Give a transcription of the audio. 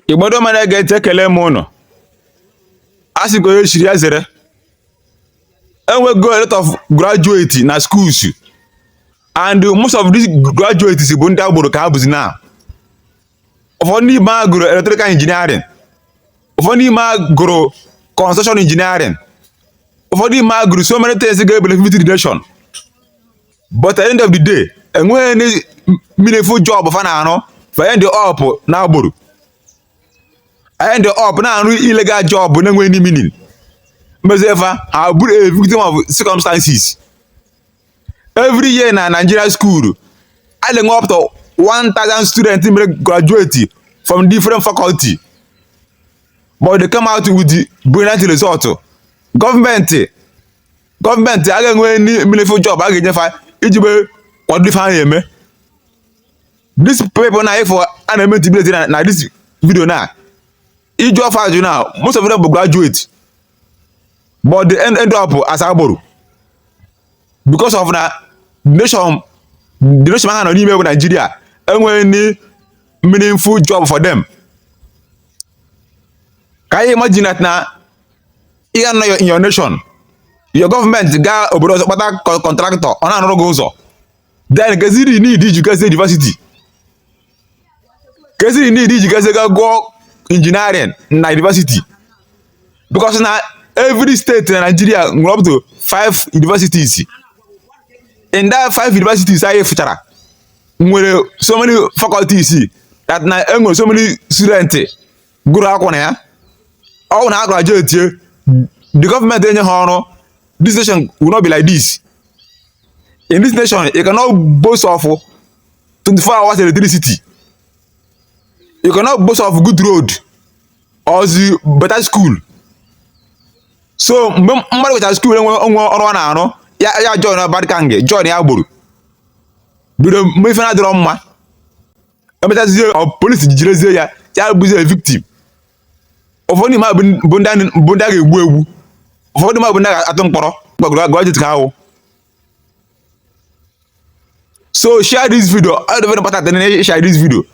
Igbo ndị ọma na-ege ntị ekele m ụnụ a sị ka onye chiri ya zere enwego a lot of graduate na schools and most of these graduates bụ ndị agboro ka ha bụzi na ụfọdụ n'ime ha gụrụ electrical engineering ụfọdụ n'ime ha gụrụ construction engineering ụfọdụ n'ime ha gụrụ so many things ga-benefit the nation but at the end of the day enweghị any meaningful job fa na-arụ fa end up na agboro end up na-arụ illegal job na-enweghị any meaning mezie fa ha bụrụ a victim of circumstances every year na Nigeria school a na-enwe up to 1000 students mere graduate from different faculty but they come out with the brilliant result government government a ga-enwe any meaningful job a ga-enye fa iji be kwado ife ha na-eme these people na ị fụ a na-eme intimidate na na this video na ị jụọ fa ajụ na most of them bụ graduate but they end, end up as agboro because of na nation the nation ha nọ n'ime bụ Nigeria enweghị any meaningful job for them can you imagine that na ị ga-anọ in your nation your government gaa obodo ọzọ kpata contractor ọ na-arụrụ gị ụzọ then kezi the need iji gazie university kezi the need iji gazie gaa gụọ engineering na university because na every state na Nigeria nwere up to five universities in that five universities anyị fụchara nwere so many faculties that na e nwere so many students gụrụ akwụkwọ na ya ọ bụ na a grajuetie the government enye ha ọrụ this nation will not be like this in this nation you cannot boast of 24 hours electricity you cannot boast of good road or the better school so mgbe mmadụ mechara school enwerọ ọrụ ọ na-arụ ya ya join bad gang join agboro bido mebe ife na-adịrọ mma emechazie police jidezie ya ya bụzie victim ụfọdụ n'ime ha bụ ndị a ga-egbu egbu ụfọdụ n'ime ha bụ ndị a ga-atụ mkpọrọ graduate ka ha bụ so share this video ọ dị very important na share this video